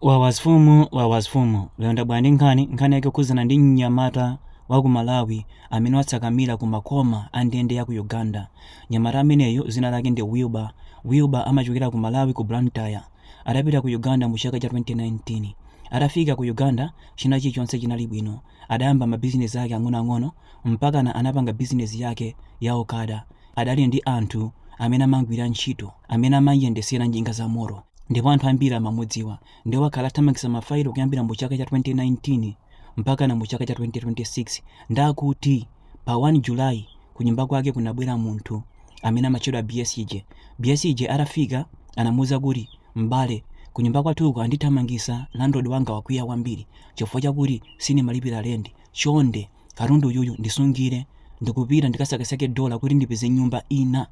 Wawa mfumu wawa mfumu lero ndabwera ndi nkhani nkhani yake yokhuzana ndi mnyamata wa ku malawi amene watsakamira ku makoma a ndende ya ku uganda mnyamata ameneyu dzina lake ndi wilbur wilbur amachokera ku malawi ku blantyre adapita ku uganda mu chaka cha 2019 atafika ku uganda china chilichonse chinali bwino adayamba mabizinesi ake ang'onoang'ono mpakana anapanga bizinesi yake ya okada adali ndi anthu amene amamgwira ntchito amene amamuyendesera njinga za moto ndipo anthu ambiri amamudziwa ndiye wakhala athamangisa mafailo kuyambira mu chaka cha 2019 mpakana mu chaka cha 2026 ndikuti pa 1 july kunyumba kwake kunabwera munthu amene amatchedwa bsj bsj atafika anamuuza kuti m'bale kunyumba kwathuko andithamangisa landlord wanga wakwiya kwambiri chifukwa chakuti sinimalipira lendi chonde katundu uyuyu ndisungire ndikupita ndikasakasake dola kuti ndipeze nyumba ina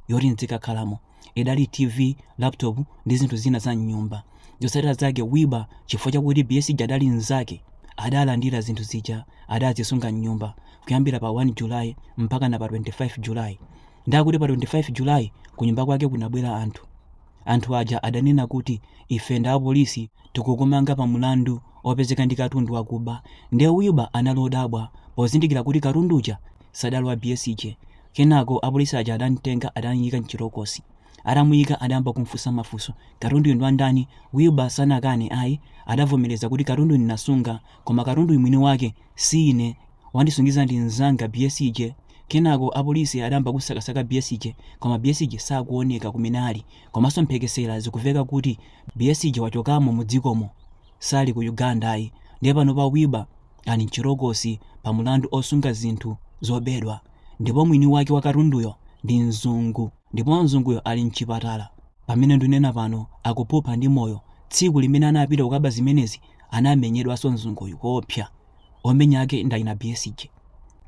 yoti ndzikakhalamo idali tv laptop ndi zinthu zina za mnyumba zotsatira zake wilbur chifukwa chakuti bsj adali mnzake adalandira zinthu zija adazisunga mnyumba kuyambira pa 1 julayi mpakana pa 25 julayi ndikuti pa 25 julayi kunyumba kwake kunabwera anthu anthu aja adanena kuti ife ndi apolisi tikukumanga pa mlandu opezeka ndi katundu wakuba nde Wilbur anali odabwa pozindikira kuti katundu uja sadali wa BSJ kenako apolisi aja adamtenga adamuyika mchitokosi atamuyika adayamba kumfunsa mafunso katunduyu ndi wandani Wilbur sanakane ayi adavomereza kuti katunduyu ndinasunga koma katunduyu mwini wake si ine Wandisungiza ndi mzanga BSJ. Kenako apolisi adayamba kumsakasaka BSJ koma BSJ sakuoneka kumene ali komanso mphekesera zikuveka kuti BSJ wachokamo mu dzikomo sali ku Uganda ayi ndiye panopa Wilbur ali mchitokosi pa mulandu osunga zinthu zobedwa ndipo mwini wake wa katunduyo ndi mzungu ndipo mzunguyo ali mchipatala pamene ndunena pano akuphupha ndi moyo tsiku limene anapita kukaba zimenezi anamenyedwanso mzunguyu koopsa. Omenya ake ndi achina BSJ.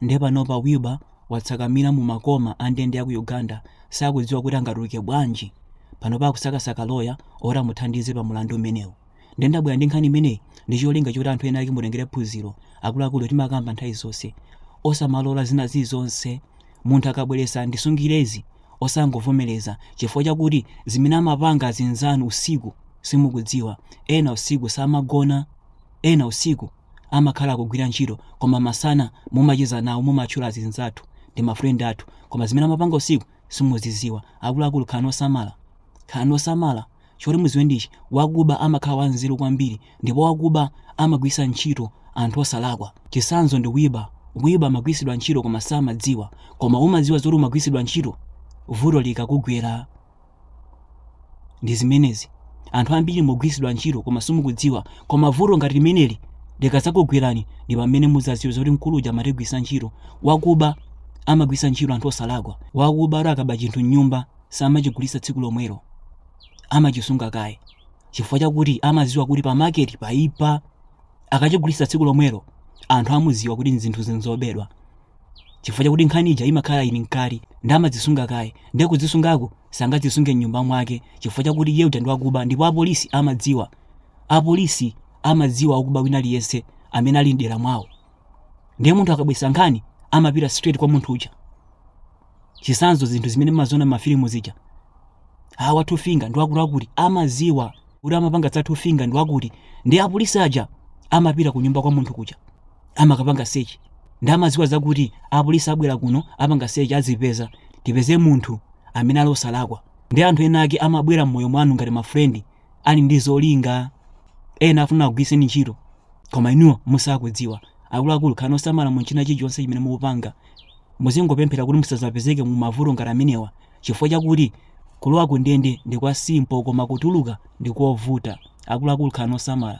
Ndiye panopa Wilbur watsakamira mu makoma a ndende ya ku Uganda sakudziwa kuti angatuluke bwanji. Panopa akusakasaka loya oti amuthandize pa mulandu umenewu. Ndiye ndabwera ndi nkhani imeneyi ndi cholinga choti anthu ena ake mutengere phunziro. Akuluakulu timakamba nthawi zonse. Osamalola zina zilizonse. Munthu akabweretsa ndisungirezi osangovomereza chifukwa chakuti zimene amapanga azinzanu usiku simukudziwa. Ena usiku samagona. Ena usiku amakhala akugwira ntchito koma masana mumacheza nawo mumatchula azinzathu ndi ma friend athu koma zimene amapanga usiku simuziziwa akuluakulu khalani osamala khalani osamala choti muziwe ndichi wakuba amakhala wanzeru kwambiri ndipo wakuba amagwirisa ntchito anthu osalakwa chisanzo ndi Wilbur Wilbur amagwirisidwa ntchito koma samadziwa koma umadziwa zoti umagwirisidwa ntchito vuto likakugwera ndi zimenezi anthu ambiri mukugwiritsidwa ntchito koma simukudziwa koma vuto ngati limeneli likadzakugwerani ndi pamene mudzadziwe zoti mkulu uja amatigwiritsa ntchito wakuba amagwiritsa ntchito anthu osalakwa wakuba ati akaba chinthu mnyumba samachigulitsa tsiku lomwelo amachisunga kaye chifukwa chakuti amadziwa kuti pa maketi paipa akachigulitsa tsiku lomwelo anthu amudziwa kuti zinthu zinzobedwa chifukwa chakuti nkhani ija imakhala ili mkati ndi amadzisunga kaye ndiye kudzisungako sangadzisunge mnyumba mwake chifukwa chakuti iye uja ndi wakuba ndipo apolisi amadziwa apolisi amadziwa wakuba wina aliyense amene ali mdera mwawo ndiye munthu akabwesa nkhani amapita straight kwa munthu uja chisanzo zinthu zimene mmaziona mafilimu zija awa two finger ndi wakutiwakuti amaziwa kuti amapanga za two finger ndi wakuti ndi apolisi aja amapita ku nyumba kwa munthu kuja amakapanga search ndi amaziwa zakuti apolisi abwera kuno apanga search azipeza tipeze munthu amene ali osalakwa ndi anthu ena ake amabwera mmoyo mwanu ngati mafrendi ali ndi zolinga ena afuna akugwiriseni ntchito koma inuyo musakudziwa akuluakulu khalani osamala mu china chilichonse chimene mukupanga muzingopemphera kuti musazapezeke mu mavuto ngati amenewa chifukwa chakuti kulowa ku ndende ndi kwa simpo koma kutuluka ndi kovuta akuluakulu khalani osamala